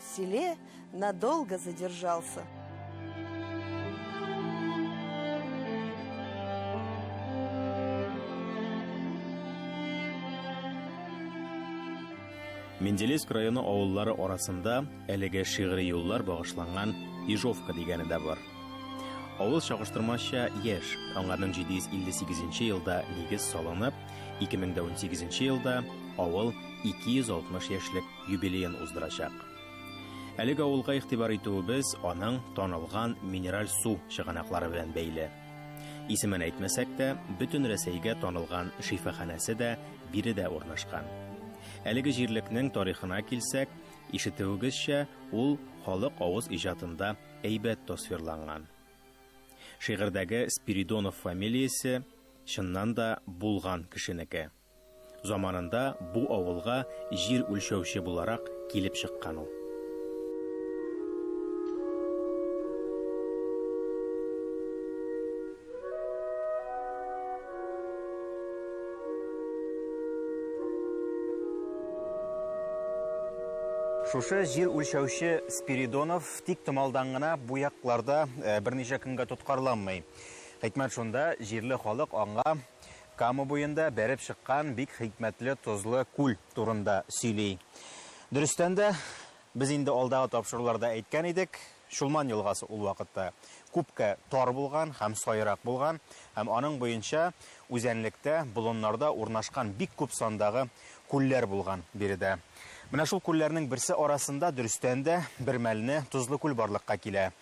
селе надолго задержался. Менделеевск районы авыллары арасында әлеге шигъри юллар багышланган Ижовка дигәне дә бар. Авыл чагыштырмача яшь, аңарның 758 елда нигез салынып, 2018 елда авыл 260 яшьлек юбилеен уздырачак. Әлеге авылга игътибар итүебез аның танылган минераль су чыганаклары белән бәйле. Исемен әйтмәсәк тә, бөтен Рәсәйгә танылган шифаханәсе дә биредә урнашкан. Әлеге җирлекнең тарихына килсәк, ишетүегезчә, ул халык авыз иҗатында әйбәт тасвирланган. Шигырьдәге Спиридонов фамилиясе чыннан да булган кешенеке. Заманында бу авылга җир үлчәүче буларак килеп чыккан ул. Шушы җир үлчәүче Спиридонов тик томалдан гына бу якларда э, берничә көнгә тоткарланмый. Хикмәт шунда, җирле халык аңа Кама буенда бәреп чыккан бик хикмәтле тозлы күл турында сөйли. Дөрестән дә, без инде алдагы тапшыруларда әйткән идек, Чулман елгасы ул вакытта күпкә тар булган һәм саерак булган һәм аның буенча үзәнлектә, болыннарда урнашкан бик күп сандагы Күлләр булган биредә. Менә шул күлләрнең берсе арасында, дөрестән дә, бермәлне Тозлы күл барлыкка килә.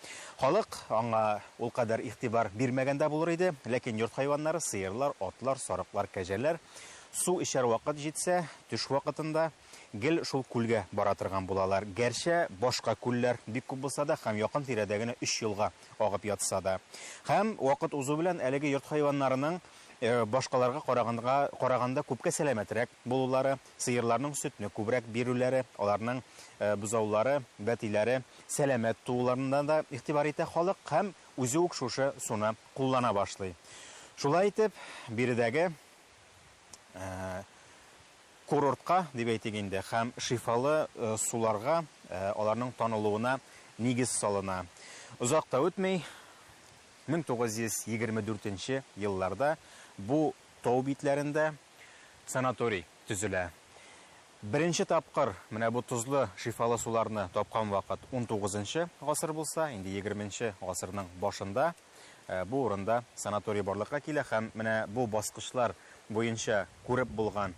Халык аңа ул кадәр игътибар бирмәгән дә булыр иде, ләкин йорт хайваннары, сыерлар, атлар, сарыклар, кәҗәләр, су эчәр вакыт җитсә, төш вакытында гел шул күлгә бара торган булалар. Гәрчә башка күлләр бик күп булса да һәм якын-тирәдә генә өч елга агып ятса да. Һәм вакыт узу белән әлеге йорт хайваннарының башкаларга караганга караганда күпкә сәламәтрәк булулары, сыерларның сөтне күбрәк бирүләре, аларның бозаулары, бәтиләре сәламәт тууларына да игътибар итә халык һәм үзе үк шушы суны куллана башлый. Шулай итеп, биредәге курортка, дип әйтик инде, һәм шифалы суларга аларның танылуына нигез салына. Озак та үтми, Мең тугыз йөз егерме дүртенче елларда бу тау битләрендә санаторий төзелә. Беренче тапкыр менә бу тозлы, шифалы суларны тапкан вакыт унтугызынчы гасыр булса, инде егерменче гасырның башында бу урында санаторий барлыкка килә һәм менә бу баскычлар буенча күреп булган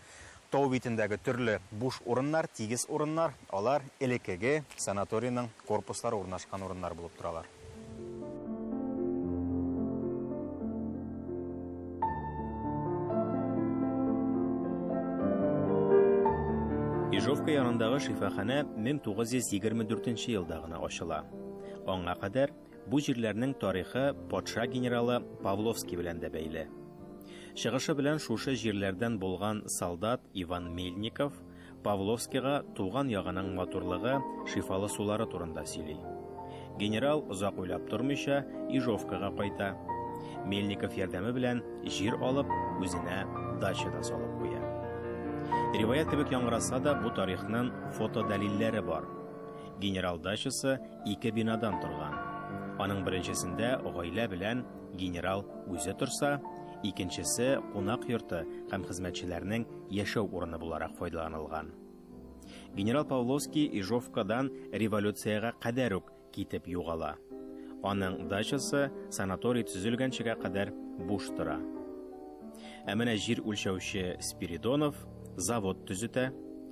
тау битендәге төрле буш урыннар, тигез урыннар, алар элекеге санаторийның корпуслары урнашкан урыннар булып торалар. Ижовка янындагы шифаханә 1924 елда гына ачыла. Аңа кадәр Бу җирләрнең тарихы патша генералы Павловский белән дә бәйле. Чыгышы белән шушы җирләрдән булган солдат Иван Мельников Павловскийга туган ягының матурлыгы, шифалы сулары турында сөйли. Генерал озак уйлап тормыйча Ижовкага кайта. Мельников ярдәме белән җир алып, үзенә дача да салып куя. Риваять кебек яңгыраса да, бу тарихның фотодәлилләре бар. Генерал дачасы Ике бинадан торган. Аның беренчесендә гаилә белән генерал үзе торса, икенчесе кунак йорты һәм хезмәтчеләрнең яшәү урыны буларак файдаланылган. Генерал Павловский Ижовкадан революциягә кадәр үк китеп югала. Аның дачасы санаторий төзелгәнчегә кадәр буш тора. Ә менә җир үлчәүче Спиридонов завод төзетә,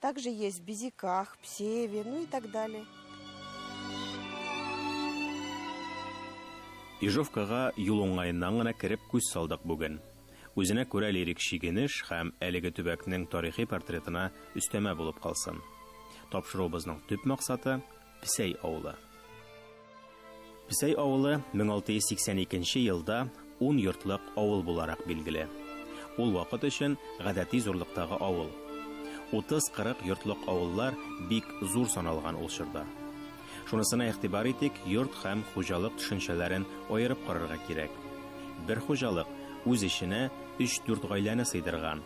Также есть Безиках, Псеви, ну и так далее. Ижовкага юл уңаеннан гына кереп күз салдык бүген. Үзенә күрә лирик шигенеш һәм әлеге төбәкнең тарихи портретына өстәмә булып калсын. Тапшыруыбызның төп максаты Песәй авылы. Песәй авылы 1682 елда ун йортлык авыл буларак билгеле. Ул вакыт өчен гадәти зурлыктагы авыл. 30-40 йортлык авыллар бик зур саналган ул чорда. Шунысына игътибар итик, йорт һәм хуҗалык төшенчәләрен аерып карарга кирәк. Бер хуҗалык үз эченә 3-4 гаиләне сыйдырган,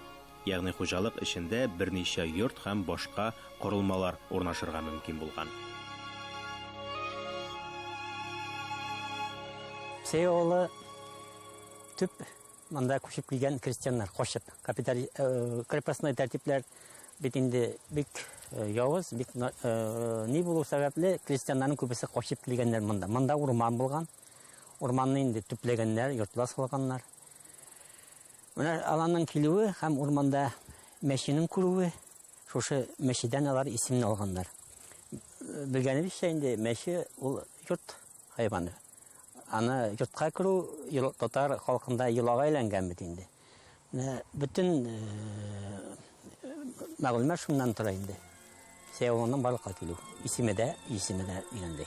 Ягъни хуҗалык эчендә берничә йорт һәм башка корылмалар урнашырга мөмкин булган. Псей авылы төп монда күчеп килгән крестьяннар, качып. Капитали, э, крепостной тәртипләр бит инде бик э, явыз, бик э, ни булу сәбәпле, крестьяннарның күбесе качып килгәннәр монда. Монда урман булган. Урманны инде төпләгәннәр, йортлар салганнар. Менә аларның килүе һәм урманда мәченең күрүе, шушы мәчедән алар исемне алганнар. Белгәнебезчә инде мәче ул йорт хайваны. Аны йортка керү татар халкында йолага әйләнгән бит инде. Бөтен мәгълүмат шуннан тора инде. Сәяуның барлыкка килү. Исеме дә, исеме дә өйрәнде.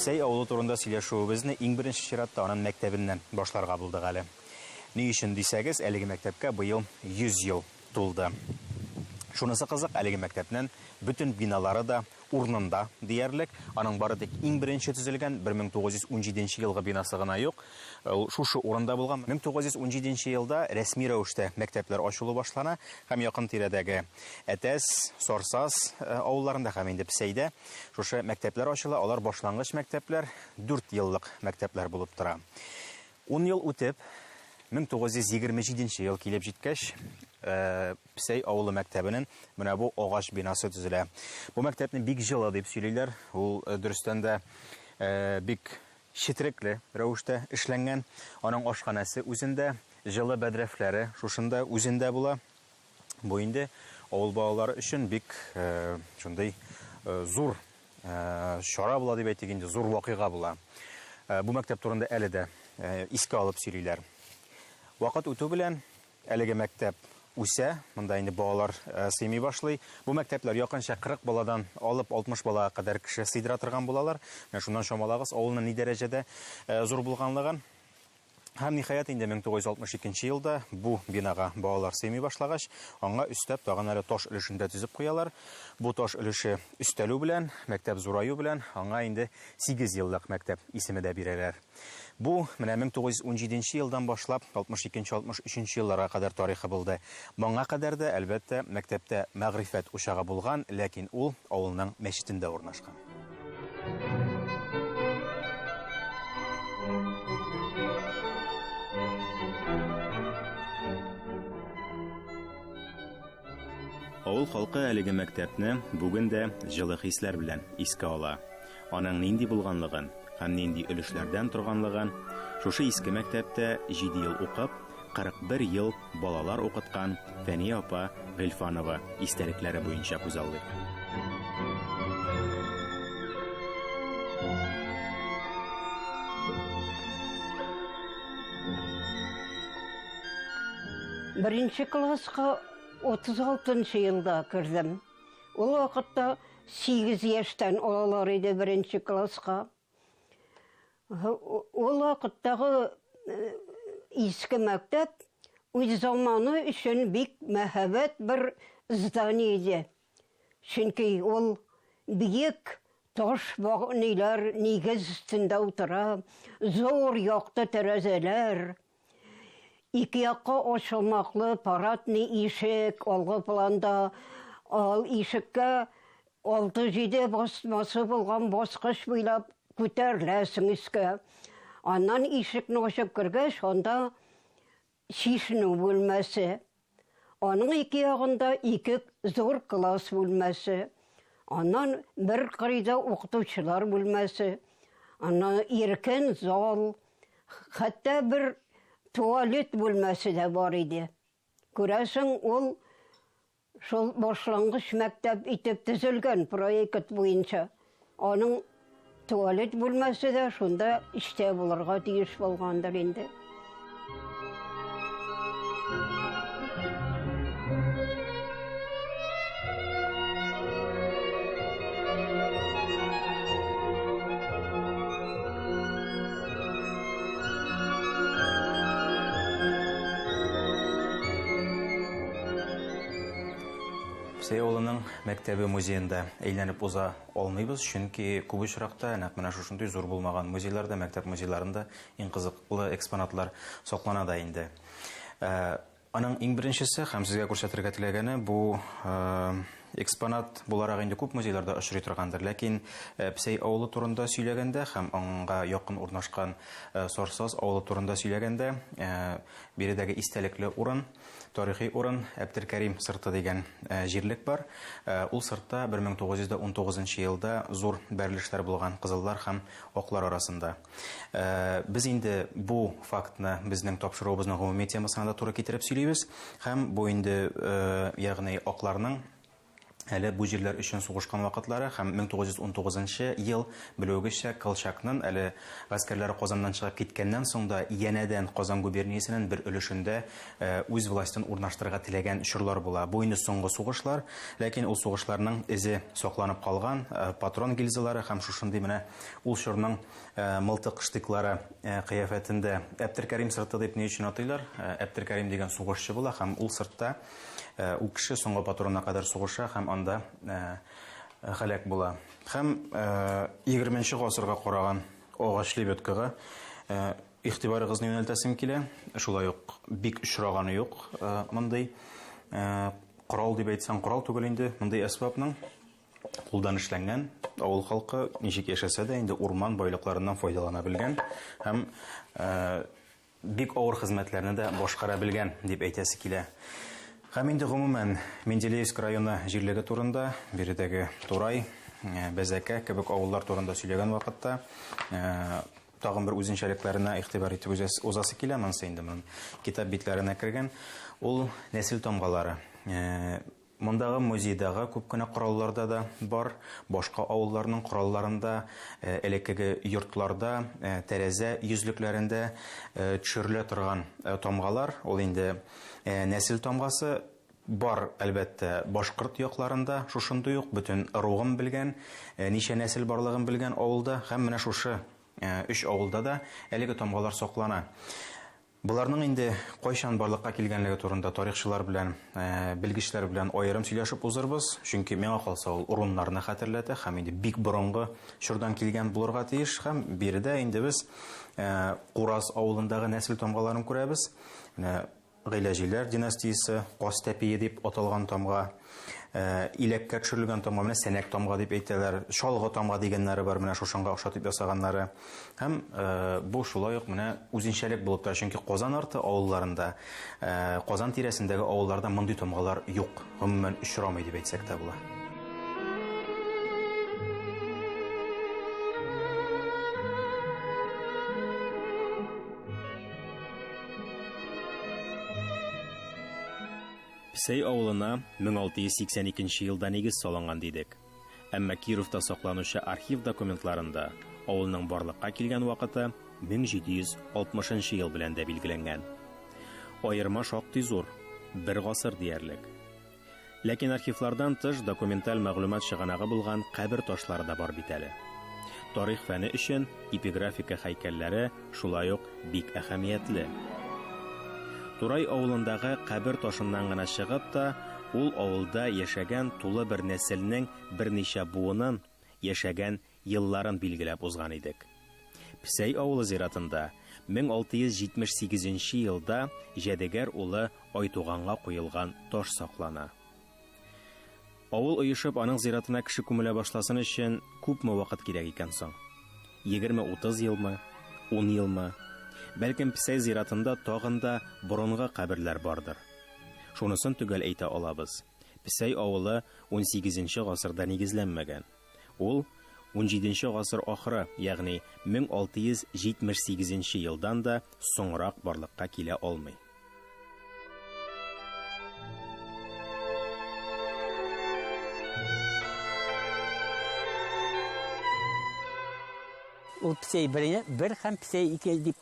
Сәй авылы турында сөйләшүебезне иң беренче чиратта анын мәктәбеннән башларга булдык әле. Ни өчен дисәгез, әлеге мәктәпкә быел 100 ел тулды. Шунысы кызык, әлеге мәктәпнен бөтен биналары да урнында диярлек. Аның бары тик иң беренче төзелгән 1917 нче елгы бинасы гына юк. Ул шушы урында булган. 1917 нче елда рәсми рәвештә мәктәпләр ачылу башлана һәм якын тирәдәге Әтәс, Сарсаз авылларында һәм инде Псәйдә шушы мәктәпләр ачыла. Алар башлангыч мәктәпләр, дүрт еллык мәктәпләр булып тора. Ун ел үтеп, 1927 нче ел килеп җиткәч, Псәй авылы мәктәбенең менә бу агач бинасы төзелә. Бу мәктәпне бик җылы дип сөйлиләр. Ул дөрестән дә бик четерекле рәвештә эшләнгән. Аның ашханәсе үзендә, җылы бәдрәфләре шушында үзендә була. Бу инде авыл балалары өчен бик шундый зур чара була дип әйтик инде, зур вакыйга була. Бу мәктәп турында әле дә искә алып сөйлиләр. Вакыт үтү белән әлеге мәктәп үсә, монда инде балалар э, сыймый башлый. Бу мәктәпләр якынча 40 баладан алып 60 балага кадәр кеше сыйдыра торган булалар. Менә шуннан чамалагыз, авылның ни дәрәҗәдә э, зур булганлыгын. Һәм, ниһаять, инде 1962 нче елда бу бинага балалар сыймый башлагач, аңа өстәп тагын әле таш өлешен дә төзеп куялар. Бу таш өлеше өстәлү белән, мәктәп зураю белән аңа инде сигез еллык мәктәп исеме дә бирәләр. Бу, менә 1917 нче елдан башлап 62 нче, 63 нче елларга кадәр тарихы булды. Моңа кадәр дә, әлбәттә, мәктәптә мәгърифәт учагы булган, ләкин ул авылның мәчетендә урнашкан. Авыл халкы әлеге мәктәпне бүген дә җылы хисләр белән искә ала. Аның нинди булганлыгын һәм нинди өлешләрдән торганлыгын шушы иске мәктәптә 7 ел укып, 41 ел балалар укыткан Фәния апа Гыйльфанова истәлекләре буенча күзаллыйк. Беренче класска 36 елда кердем. Ул вакытта 8 яшьтән алалар иде беренче класска. Ул вакыттагы иске мәктәп үз заманы өчен бик мәһабәт бер здание иде. Чөнки ул биек таш ниләр нигез өстендә утыра, зур якты тәрәзәләр, Ике якка ачылмаклы парадный ишек, алгы планда ал ишеккә алты-җиде басмасы булган баскыч буйлап күтәреләсең өскә. Аннан ишекне ачып кергәч, анда чишенү бүлмәсе. Аның ике ягында ике зур класс бүлмәсе, аннан бер кырыйда укытучылар бүлмәсе, аннан иркен зал, хәтта бер туалет бүлмәсе дә бар иде. Күрәсең, ул шул башлангыч мәктәп итеп төзелгән проект буенча. Аның туалет бүлмәсе дә шунда эчтә булырга тиеш булгандыр инде. мәктәбе музеенда әйләнеп уза алмыйбыз, чөнки күп очракта нәкъ менә шушындый зур булмаган музейларда, мәктәп музейларында иң кызыклы экспонатлар саклана да инде. Аның иң беренчесе һәм сезгә күрсәтергә теләгәне бу экспонат буларак инде күп музейларда очрый торгандыр, ләкин Псәй авылы турында сөйләгәндә һәм аңа якын урнашкан Сарсаз авылы турында сөйләгәндә, биредәге истәлекле урын, Тарихи урын, Әптелкәрим сырты дигән җирлек бар. Ул сыртта 1919 нчы елда зур бәрелешләр булган кызыллар һәм аклар арасында. Без инде бу фактны безнең тапшыруыбызның гомуми темасына да туры китереп сөйлибез һәм бу инде, ягъни акларның әле бу җирләр өчен сугышкан вакытлары һәм 1919 нчы ел, белүегезчә, Колчакнын әле гаскәрләре Казаннан чыгып киткәннән соң да янәдән Казан губерниясенен бер өлешендә үз властен урнаштырырга теләгән чорлар була. Бу инде соңгы сугышлар, ләкин ул сугышларның эзе сакланып калган, патрон гильзалары һәм шушындый менә ул чорның мылтык штыклары кыяфәтендә. Әптеркәрим сырты дип ни өчен атыйлар? Әптеркәрим дигән сугышчы була һәм ул сыртта, Ул кеше соңгы патронына кадәр сугыша һәм анда һәлак була. Һәм егерменче гасырга караган агач лебедкага игътибарыгызны юнәлтәсем килә. Шулай ук бик очраганы юк мондый корал дип әйтсәң корал түгел инде, мондый әсбапның кулдан эшләнгән, авыл халкы ничек яшәсә дә инде урман байлыкларыннан файдалана белгән һәм Бик авыр хезмәтләрне дә башкара белгән, дип әйтәсе килә. Һәм инде гомумән, Менделеевск районы җирлеге турында, биредәге Турай, Бәзәкә кебек авыллар турында сөйләгән вакытта, тагын бер үзенчәлекләренә игътибар итеп узасы килә, монысы инде китап битләренә кергән. Ул нәсел тамгалары. Мондагы музейдагы күп кенә коралларда да бар, башка авылларның коралларында, элеккеге йортларда, тәрәзә йөзлекләрендә төшерелә торган тамгалар, ул инде нәсел тамгасы, бар, әлбәттә, башкорт якларында шушындый ук, бөтен ыругын белгән, ничә нәсел барлыгын белгән авылда һәм менә шушы өч авылда да әлеге тамгалар саклана. Боларның инде кайчан барлыкка килгәнлеге турында тарихчылар белән, белгечләр белән аерым сөйләшеп узырбыз, чөнки, миңа калса, ул урыннарны хәтерләтә һәм инде бик борынгы чордан килгән булырга тиеш. Һәм биредә инде без Кураз авылындагы нәсел тамгаларын күрәбез. Менә Гыйләҗиләр династиясе, Каз тәпие дип аталган тамга. Э, иләккә төшерелгән тамга менә сәнәк тамга дип әйтәләр чалгы тамга дигәннәре бар менә шушанга охшатып ясаганнары һәм э, бу шулай ук менә үзенчәлек булып тора чөнки казан арты авылларында э, казан тирәсендәге авылларда мондый тамгалар юк гомумән очрамый дип әйтсәк тә була Псей авылына 1682 елда нигез салынган дидек. Әмма Кировта сакланучы архив документларында авылның барлыкка килгән вакыты 1760 ел белән дә билгеләнгән. Аерма шактый зур, бер гасыр диярлек. Ләкин архивлардан тыш документаль мәгълүмат чыганагы булган кабер ташлары да бар бит әле. Тарих фәне өчен эпиграфика һәйкәлләре, Шулай ук бик әһәмиятле. Турай авылындагы кабер ташыннан гына чыгып та, ул авылда яшәгән тулы бер нәселнең берничә буынын, яшәгән елларын билгеләп узган идек. Псәй авылы зиратында 1678 нче елда Җәдегәр улы Айтуганга куелган таш саклана. Авыл оешып, аның зиратына кеше күмелә башласын өчен күпме вакыт кирәк икән соң? Егерме-утыз елмы? Ун елмы? Бәлкем, Песәй зиратында тагын да борынгы каберләр бардыр. Шунысын төгәл әйтә алабыз, Песәй авылы унсигезенче гасырда нигезләнмәгән. Ул унҗиденче гасыр ахыры, ягъни 1678 елдан да соңрак барлыкка килә алмый. Ул Псей I, бер һәм Псей II дип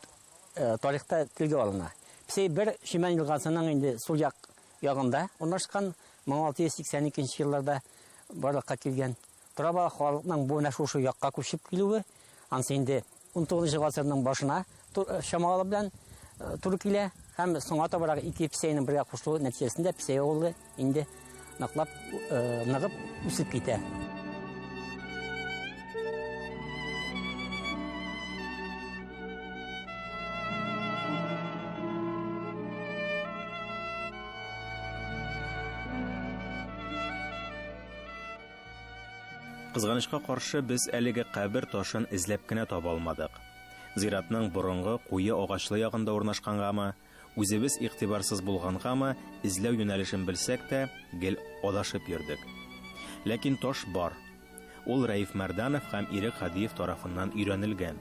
тарихта телгә алына. Псей I Шимән елгасының инде сул як ягында урнашкан, 1682 нче елларда барлыкка килгән. Тора-бара халыкның бу менә шушы якка күчеп килүе, анысы инде 19 нчы гасырның башына чамалары белән туры килә һәм соңга табарак ике песәйнең бергә кушылуы нәтиҗәсендә песәй авылы инде ныклап ныгып үсеп китә. Кызганычка каршы, без әлеге кабер ташын эзләп кенә таба алмадык. Зиратның борынгы куе агачлы ягында урнашкангамы, Үзебез игътибарсыз булгангамы, эзләү юнәлешен белсәк тә, гел адашып йөрдек. Ләкин таш бар. Ул Рәиф Мәрданов һәм Ирек Һадиев тарафыннан өйрәнелгән.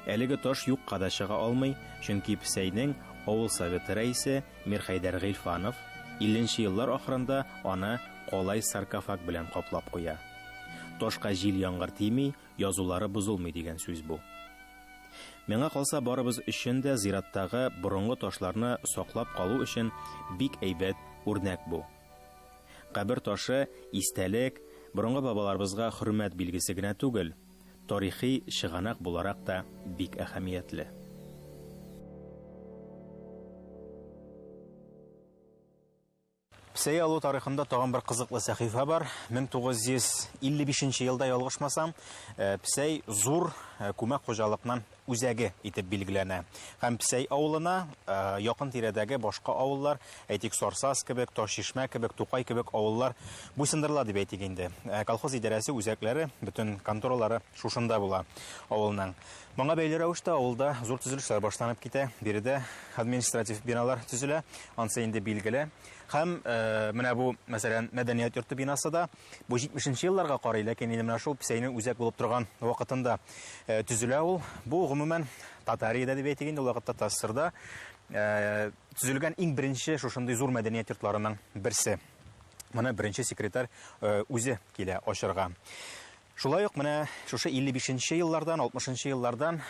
Әлеге таш юкка да чыга алмый, чөнки Псәйнең авыл Советы рәисе Мирхәйдәр Гыйльфанов илленче еллар ахырында аны калай саркофаг белән каплап куя. Ташка җил-яңгыр тими, язулары бозылмый дигән сүз бу. Миңа калса, барыбыз өчен дә зираттагы борынгы ташларны саклап калу өчен бик әйбәт үрнәк бу. Кабер ташы истәлек, борынгы бабаларыбызга хөрмәт билгесе генә түгел, тарихи чыганак буларак та бик әһәмиятле. Псәя алу тарихында тагын бер кызыклы сәхифә бар. 1955 нче елда ялгышмасам, э, Псәй зур э, күмәк хуҗалыкның үзәге итеп билгеләнә. Һәм Псәй авылына э, якын тирәдәге башка авыллар, әйтик, Сарсаз кебек, Ташчишмә кебек, Тукай кебек авыллар буйсындырыла дип әйтик инде. Колхоз идарәсе үзәкләре, бөтен конторалары шушында була авылның. Моңа бәйле рәвештә авылда зур төзелешләр башланып китә. Биредә административ биналар төзелә, ансы инде билгеле. Һәм э, менә бу, мәсәлән, мәдәният йорты бинасы да бу 70 елларга карый, ләкин инде менә шул Псәйнең үзәк булып торган вакытында э, төзелә ул. Бу гомумән Татариядә дип әйтик инде ул вакытта Тассырда э, төзелгән иң беренче шушындый зур мәдәният йортларының берсе. Моны беренче секретарь э, үзе килә ачарга. Шулай ук менә шушы 55 нче еллардан, 60 нчы еллардан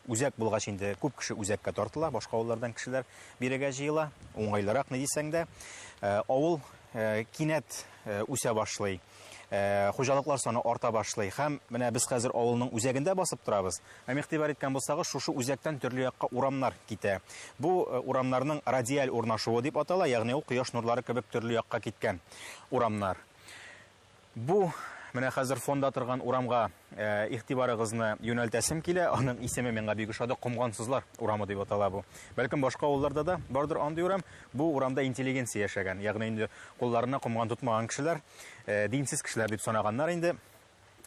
үзәк булгач инде күп кеше үзәккә тартыла, башка авыллардан кешеләр бирегә җыела. Уңайлырак ни дисәң дә, э, авыл э, кинәт э, үсә башлый. Хуҗалыклар саны арта башлый һәм менә без хәзер авылның үзәгендә басып торабыз. Һәм игътибар иткән булсагыз, шушы үзәктән төрле якка урамнар китә. Бу урамнарның радиаль урнашуы дип атала, ягъни ул кояш нурлары кебек төрле якка киткән урамнар. Бу менә хәзер фонда торган урамга игътибарыгызны юнәлтәсем килә. Аның исеме миңа бик ошады. Комгансызлар урамы дип атала бу. Бәлкем башка авылларда да бардыр андый урам. Бу урамда интеллигенция яшәгән. Ягъни инде кулларына комган тотмаган кешеләр, динсез кешеләр дип санаганнар инде.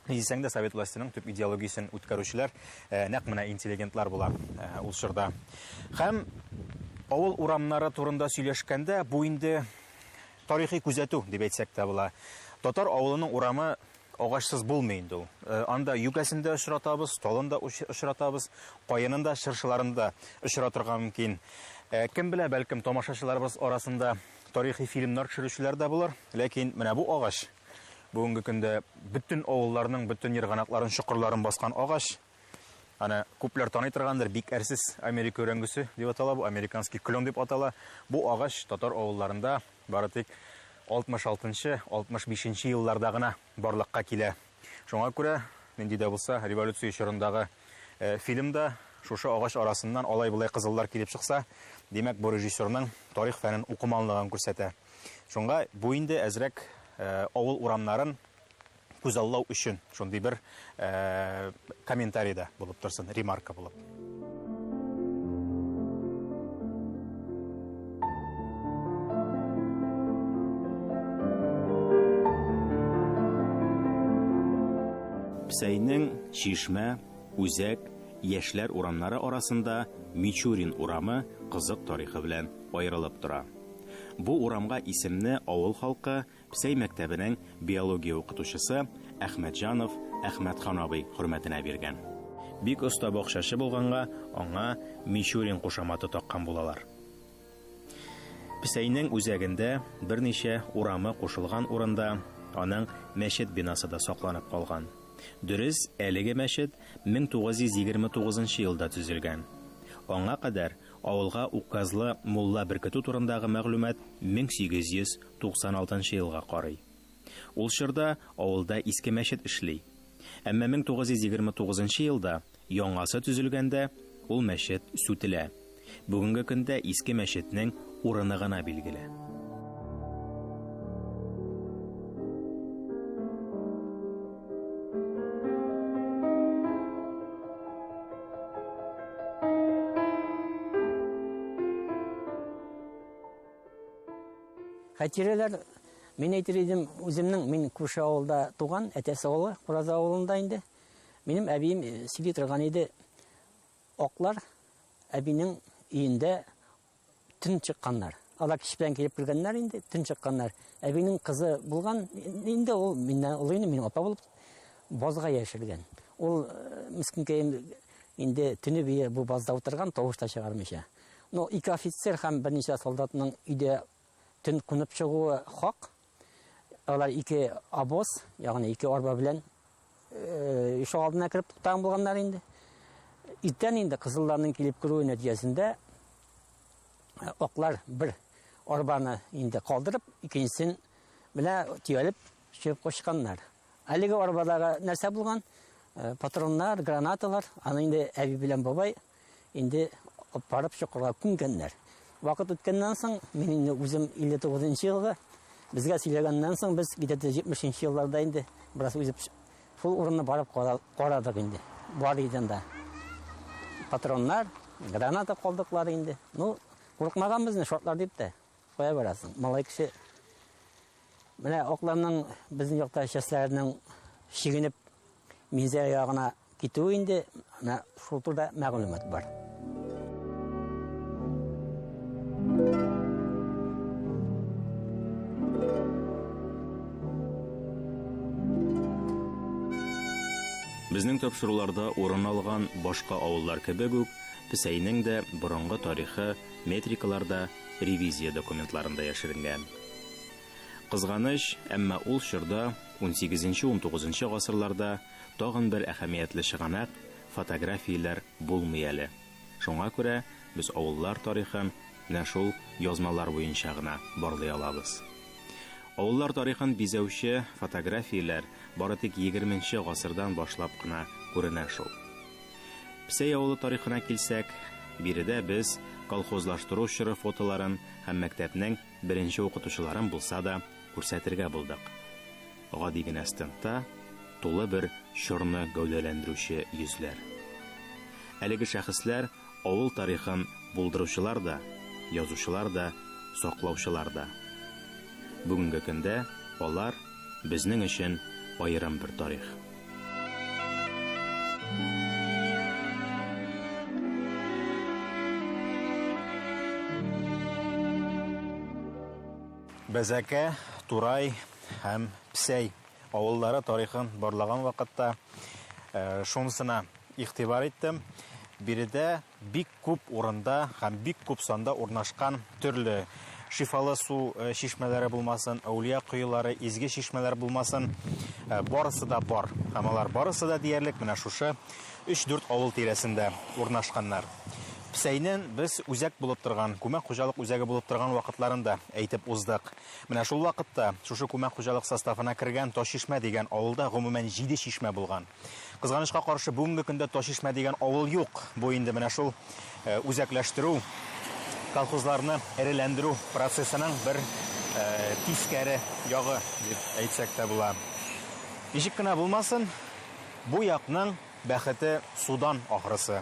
Ни дисәң дә, совет властеның төп идеологиясен үткәрүчеләр нәкъ менә интеллигентлар була ул чорда. Һәм авыл урамнары турында сөйләшкәндә, бу инде Тарихи күзәтү дип әйтсәк тә була. Татар авылының урамы агачсыз булмый инде ул. Э, анда юкәсен дә очратабыз, талын да очратабыз, каенын да, чыршыларын да очратырга мөмкин. Э, кем белә, бәлкем тамашачыларыбыз арасында тарихи фильмнар төшерүчеләр дә булыр. Ләкин менә бу агач бүгенге көндә бөтен авылларның бөтен ерганакларын, чокырларын баскан агач. Аны күпләр таный торгандыр, бик әрсез Америка өрәңгесе дип атала бу, американский клен дип атала. Бу агач татар авылларында бары тик 66-65 нче елларда гына барлыкка килә. Шуңа күрә, нинди дә булса, революция чорындагы э, фильмда шушы агач арасыннан алай-болай кызыллар килеп чыкса, димәк, бу режиссерның тарих фәнен укыманлыгын күрсәтә. Шуңа бу инде әзрәк э, авыл урамнарын күзаллау өчен шундый бер комментарий да булып торсын, ремарка булып. Псәйнең Чишмә, Үзәк, Яшьләр урамнары арасында Мичурин урамы кызык тарихы белән аерылып тора. Бу урамга исемне авыл халкы Псай мәктәбенең биология укытучысы Әхмәтҗанов Әхмәтхан абый хөрмәтенә биргән. Бик оста бакчачы булганга, аңа Мичурин кушаматы таккан булалар. Псайның үзәгендә, берничә урамы кушылган урында, аның мәчет бинасы да сакланып калган. Дөрес, әлеге мәчет 1929 елда төзелгән. Аңа кадәр Авылга указлы мулла беркетү турындагы мәгълүмат 1896 елга карый. Ул чорда авылда иске мәчет эшли. Әмма 1929 елда яңасы төзелгәндә ул мәчет сүтелә. Бүгенге көндә иске мәчетнең урыны гына билгеле. Хәтирәләр Мин әйтер идем, үземнең мин күрше авылда туган, әтәсе авылы, Ураза авылында инде. Минем әбием э, сөйли торган иде. Аклар әбинең өендә Төн чыкканнар. Алар кич белән килеп кергәннәр инде, төн чыкканнар. Әбинең кызы булган, инде ул миннән олы инде, мин апа булып базга яшергән. Ул э, мискинкәем инде төне бие бу базда утырган, тавыш та чыгармыйча. Но ике офицер һәм берничә солдатның өйдә төн кунып чыгуы хак, Алар ике обоз, ягъни ике арба белән ишек алдына кереп туктаган булганнар инде. Иртән инде кызылларның килеп керүе нәтиҗәсендә аклар бер арбаны инде калдырып, икенчесен менә төялеп чыгып кочканнар. Әлеге арбадагы нәрсә булган? Патроннар, гранаталар. Аны инде әби белән бабай Инде барып чокырга күнкәннәр. Вакыт үткәннән соң, мин инде үзем 59 елга, безгә сөйләгәннән соң, без где 70 елларда инде бераз үзеп шул урынны барып карадык инде. Бар иден да. Патроннар, граната калдыклар инде. Ну, курыкмаган безне шортлар дип тә. Кая барасың? Малай кеше Менә окланның безнең якта частьләренең шигенеп Минзәлә ягына китүе инде менә шул турыда мәгълүмат бар. Безнең тапшыруларда урын алган башка авыллар кебек үк, Песәйнең дә борынгы тарихы метрикаларда, ревизия документларында яшеренгән. Кызганыч, әмма ул чорда, унсигезенче-унтугызынчы гасырларда, тагын бер әһәмиятле чыганак, фотографияләр булмый әле. Шуңа күрә без авыллар тарихын менә шул язмалар буенча гына барлый алабыз. Авыллар тарихын бизәүче фотографияләр бары тик егерменче гасырдан башлап кына күренә шул. Псәй авылы тарихына килсәк, биредә без колхозлаштыру чоры фотоларын һәм мәктәпнең Беренче укытучыларым булса да, күрсәтергә булдык. Гади генә стендта тулы бер чорны гәүдәләндерүче йөзләр. Әлеге шәхесләр авыл тарихын булдыручылар да, язучылар да, саклаучылар да. Бүгенге көндә алар, безнең өчен аерым бер тарих. Бәзәкә, Турай һәм Псәй авыллары тарихын барлаган вакытта э, шунысына игътибар иттем. Биредә бик Күп урында һәм бик күп санда урнашкан төрле шифалы су э, чишмәләре булмасын, әүлия коелары, изге чишмәләр булмасын, э, барысы да бар. Һәм алар барысы да диярлек менә шушы 3-4 авыл тирәсендә урнашканнар. Псәйнен без үзәк булып торган, күмәк хуҗалык үзәге булып торган вакытларында әйтеп уздык. Менә шул вакытта шушы күмәк хуҗалык составына кергән Ташишмә дигән авылда гомумән җиде чишмә булган. Кызганычка каршы, бүгенге көндә Ташишмә дигән авыл юк. Бу инде менә шул э, үзәкләштерү, колхозларны эреләндерү процессының бер э, тискәре ягы дип әйтсәк тә була. Ничек кенә булмасын, бу якның бәхете судан ахрысы.